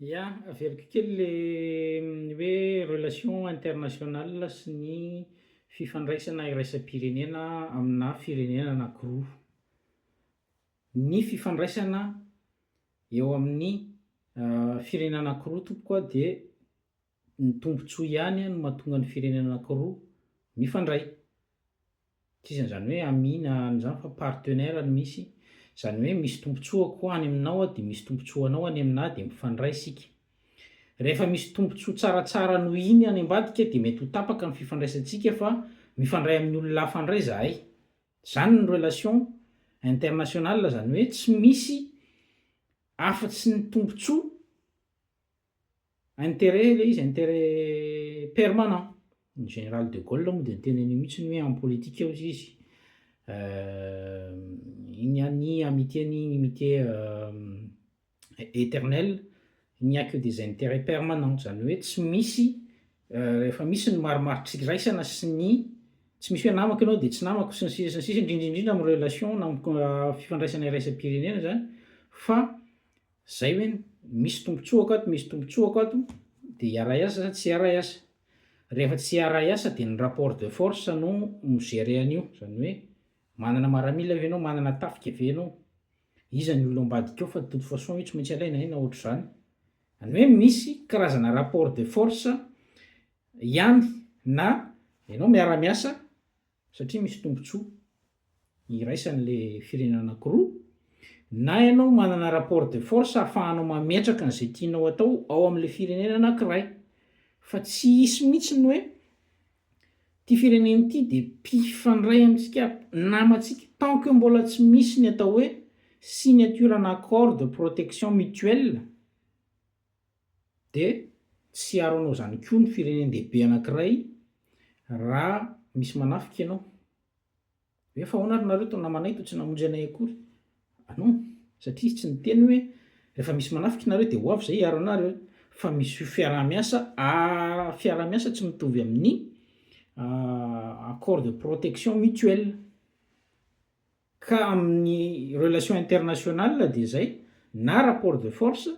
Ya, averiko kely le hoe relation internationale sy ny fifandraisana iraisam-pirenena amina firenena anankiroa. Ny fifandraisana eo amin'ny firenena anankiroa tompoko a dia Ny tombontsoa ihany no mahatonga ny firenena anankiroa mifandray. Sisa izany hoe amis na an'izany fa partenaire no misy. Izany hoe misy tombontsoako any aminao aho dia misy tombontsoa anao any aminà dia mifandray isika. Rehefa misy tombontsoa tsaratsara noho iny any ambadika dia mety ho tapaka ny fifandraisantsika fa mifandray amin'ny olona hafa indray izahay. Izany ny relation internationale izany hoe tsy misy afa-tsy ny tombontsoa. Intérêt ilay izy, intérêt permanent. Ny général de Gaulle moa dia niteny an'io mihitsy hoe en politique hozy izy, il n'y a ni amitié ni inimitié éternelle, il n'y a que des intérêts permanents, izany hoe tsy misy, rehefa misy ny marimaritra iraisana sy ny, tsy misy hoe namako ianao dia tsy namako sy ny sisa sy ny sisa, indrindra indrindra amin'ny relation na amin'ny fifandraisana iraisam-pirenena izany fa Zay hoe misy tombotsoako ato misy tombotsoako ato dia hiaray asa sa tsy hiaray asa? Rehefa tsy hiaray asa dia ny rapport de force no mi gerer an'io, izany hoe manana maramila ve ianao, manana tafika ve ianao, iza ny olona ambadika ao fa de toute façon io tsy maintsy alaina hay na ohatr'izany. Izany hoe misy karazana rapport de force ihany na ianao miara-miasa satria misy tombotsoa iraisany le firenena anakiroa, na ianao manana rapport de force ahafahanao mametraka an'izay tianao atao ao amle firenena anakiray, fa tsy hisy mihitsy ny hoe ity firenena ity de mpifandray amintsika namantsika, tant que mbola tsy misy ny atao hoe signature ana accord de protection mutuelle, Dia tsy hiaro anao izany koa ny firenen-dehibe anankiray raha misy manafika ianao. Hoe fa ahoana ary nareo to namanay to tsy namonjy anay akory. Ah non, satria izy tsy niteny hoe rehefa misy manafika nareo dia ho avy izay hiaro anareo. Fa misy io fiaraha-miasa ary fiaraha-miasa tsy mitovy amin'ny accord de protection mutuelle. Ka amin'ny relation internationale dia zay, na rapport de force,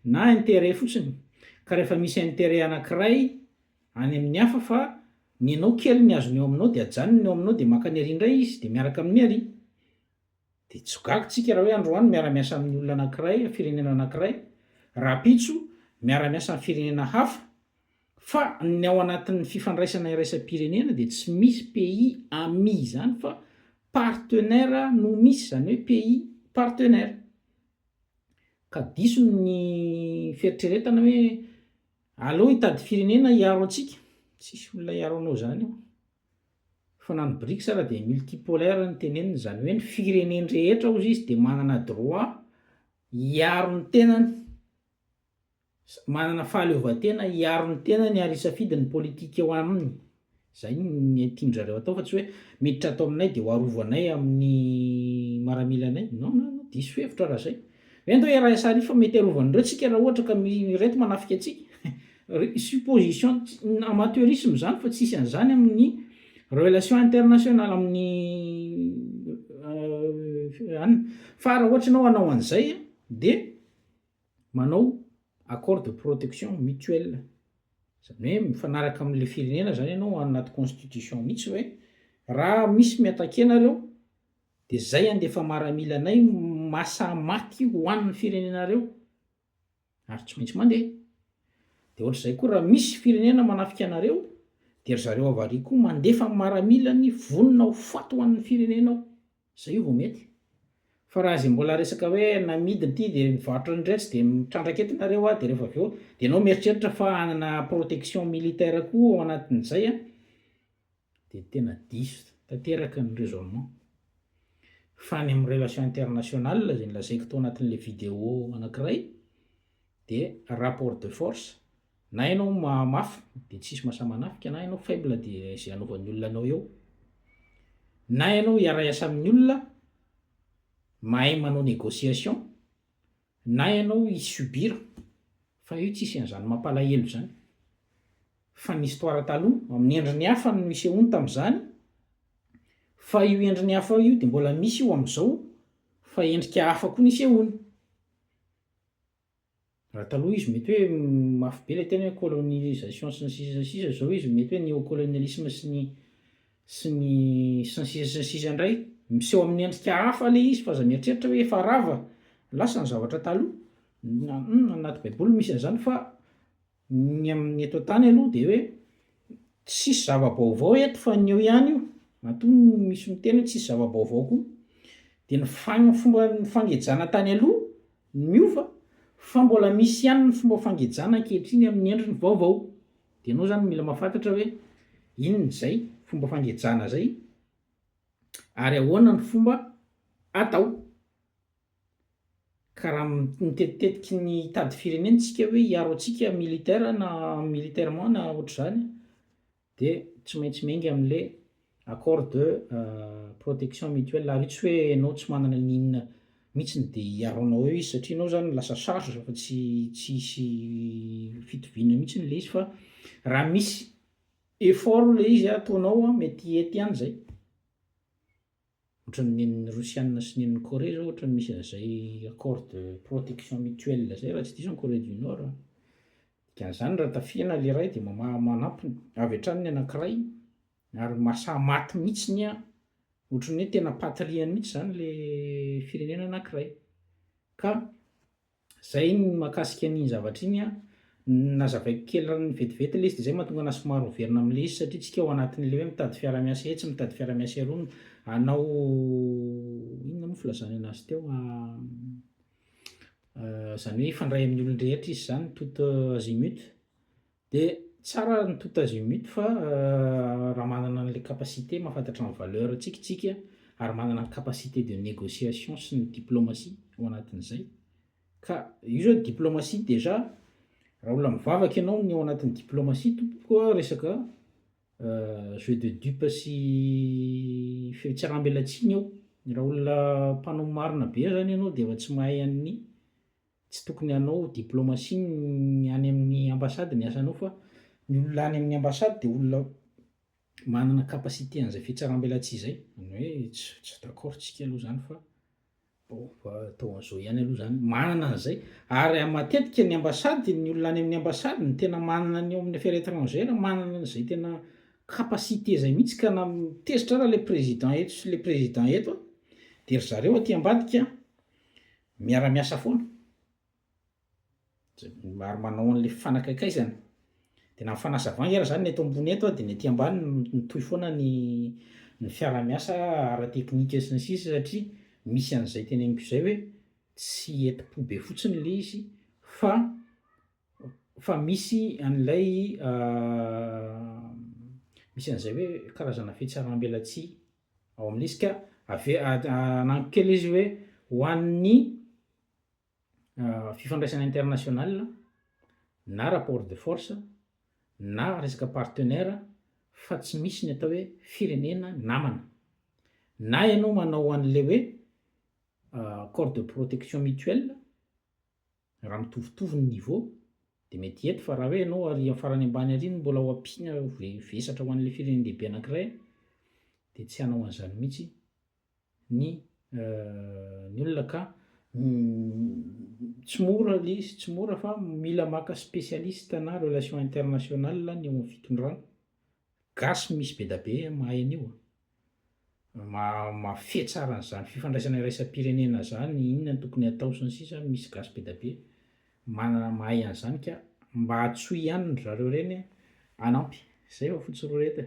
na intérêt fotsiny, ka rehefa misy intérêt anankiray any amin'ny hafa fa nenao kely ny azony eo aminao dia ajanony ny eo aminao dia makany ary indray izy dia miaraka amin'ny ary, dia tsy ho gaga tsika raha hoe androany miara-miasa amin'ny olona anankiray, firenena anankiray, rahampitso miara-miasa amin'ny firenena hafa, Fa ny ao anatin'ny fifandraisana iraisam-pirenena dia tsy misy pays amis izany fa partenaires no misy, izany hoe pays partenaires. Ka diso ny fieritreretana hoe aleo hitady firenena hiaro antsika, tsisy olona hiaro anao izany eo. Fa na ny Brics ara dia multipolaire ny tenenina, izany hoe ny firenen-drehetra hozy izy dia manana droit hiaro ny tenany. Manana fahaleovantena hiaro ny tenany ary hisafidy ny politika eo aminy. Izay no tian-dry zareo atao fa tsy hoe miditra ato aminay dia ho arovy anay amin'ny maramilanay. Non, non, non, diso hevitra raha izay. Hoe ndao iaraha sary fa mety arovan'ireo tsika raha ohatra ka ireto manafika antsika. Supposition amateurisme izany fa tsisy an'izany amin'ny relation internationale, amin'ny any. Fa raha ohatra ianao hanao an'izay dia Manao accord de protection mutuelle, izany hoe mifanaraka amin'ilay firenena izany ianao ao anaty constitution mihitsy hoe raha misy mi-attaquer anareo dia izay handefa maramila anay masa maty ho an'ny firenenareo ary tsy maintsy mandeha. Dia ohatr'izay koa raha misy firenena manafika anareo dia ry zareo avariako koa mandefa maramilany vonona ho faty ho an'ny firenenao. Zay vao mety. Fa raha izay mbola resaka hoe namidy ity dia nivarotra ny retsy dia mitrandraka eto nareo a, dia rehefa avy eo dia enao mieritreritra fa hanana protection militaire koa ao anatin'izay a, dia tena diso tanteraka ny raisonnement. Fa ny amin'ny relation internationale izay nolazaiko tao anatin'ilay video anakiray dia rapport de force Na ianao mahamafy dia tsisy mahasahy manafika, na ianao faible dia izay anaovan'ny olona anao eo. Na ianao hiara-hiasa amin'ny olona, mahay manao négociation, na ianao hi subir, fa io tsisy an'izany mampalahelo izany. Fa ny histoire taloha, amin'ny endriny hafa no nisehoany tamin'izany, fa io endriny hafa io dia mbola misy io amin'izao, fa endrika hafa koa nisehoany. Raha taloha izy mety hoe mafy be ilay teny hoe colonisation sy ny sisa sy ny sisa, izao izy mety hoe néocolonialisme sy ny sy ny sy ny sisa sy ny sisa indray. Miseho amin'ny endrika hafa ilay izy fa aza mieritreritra hoe efa rava lasa ny zavatra taloha, na anaty baiboly misy an'izany fa Ny amin'ny eto an-tany aloha dia hoe tsisy zava-baovao eto fa ny eo ihany io, matoa misy miteny hoe tsisy zava-baovao koa. Dia ny fagn- fomba ny fangejana tany aloha no miova fa mbola misy ihany ny fomba fangejana ankehitriny amin'ny endriny vaovao. Dia ianao izany mila mahafantatra hoe inona izay fomba fangejana izay ary ahoana ny fomba atao. Ka raha mitetitetiky ny hitady firenena isika hoe hiaro antsika militaire na militairement na ohatr'izany dia tsy maintsy miainga amin'le accord de protection mutuelle ary io tsy hoe enao tsy manana ny inona mitsiny de hiaronao eo izy satria enao zany lasa charge fa tsy tsy hisy fitoviana mitsiny le izy fa raha misy effort le izy ataonao mety hety ihany zay. Ohatran'ny nen'ny Rosiana sy nen'ny Corée izao ohatran'ny misy an'izay accord de protection mutuelle izay raha tsy diso any Corée du Nord a. Dikan'izany raha tafihana ilay iray dia mamaha manampy avy hatrany ny anankiray ary mahasahy maty mihitsy ny an, ohatran'ny hoe tena patrie-ny mihitsy izany ilay firenena anankiray ka. Zay ny mahakasika an'iny zavatra iny an, nazavaiko kely ran'ny vetivety ilay izy dia izay no mahatonga anahy somary overina amin'ilay izy satria tsika ao anatin'ilay hoe mitady fiarahamiasa etsy mitady fiarahamiasa eroa no hanao inona moa filazany anazy teo izany hoe hifandray amin'ny olon-drehetra izy izany toute azimut Dia tsara ny tout azimut fa raha manana an'ilay capacité mahafantatra ny valeur antsika isika ary manana ny capacité de négociation sy ny diplomatie ao anatin'izay ka io zao diplomatie déjà raha olona mivavaka ianao ny ao anatin'ny diplomatie tompoko a resaka jeux de dupe sy fihetseham-belatsihy ny ao, raha olona mpanao marina be zany ianao dia efa tsy mahay an'ny. Tsy tokony hanao diplomasia ny any amin'ny ambassade ny asanao fa ny olona any amin'ny ambassade dia olona manana capacité an'izay fitsarambelatsihy izay, ny hoe tsy d'accord tsika aloha izany fa bon fa atao an'izao ihany aloha izany, manana an'izay ary matetika ny ambassade ny olona any amin'ny ambassade ny tena manana ny ao amin'ny affaire etrangère manana an'izay tena capacité izay mihitsy ka na tezitra ary ilay président eto sy ilay président eto dia ry zareo aty ambadika Miara miasa foana ary manao an'ilay fifanakaikaizana. Dia na ny fanazavana ary izany ny eto ambony eto dia ny aty ambany mitohy foana ny ny fiara miasa ara teknika sy ny sisa satria misy an'izay teneniko izay hoe tsy hetim po be fotsiny ilay izy fa fa misy an'ilay misy an'izay hoe karazana fihetseham belatsihy. Ao amin'ny isika, ave- anagnako kely izy hoe ho an'ny fifandraisana international na rapport de force na resaka partenaire fa tsy misy ny atao hoe firenena namana. Na ianao manao an'ilay hoe accord de protection mutuelle, Raha mitovitovy ny niveau dia mety hety fa raha hoe ianao ary amin'ny farany ambany ary no mbola ho ampiana ho vesatra ho an'ilay firenen-dehibe anankiray dia tsy hanao an'izany mihitsy ny ny olona ka tsy mora ilay izy, tsy mora fa mila maka spécialiste na relations internationales ny eo amin'ny fitondrana. Gasy misy bedabe mahay an'io a! Ma mafehy tsara an'izany fifandraisana iraisam-pirenena izany, inona no tokony hatao sy ny sisa, misy gasy bedabe manana mahay an'izany ka mba antsoy ihany ry zareo ireny hanampy. Izay fa fotsy roa ireto e!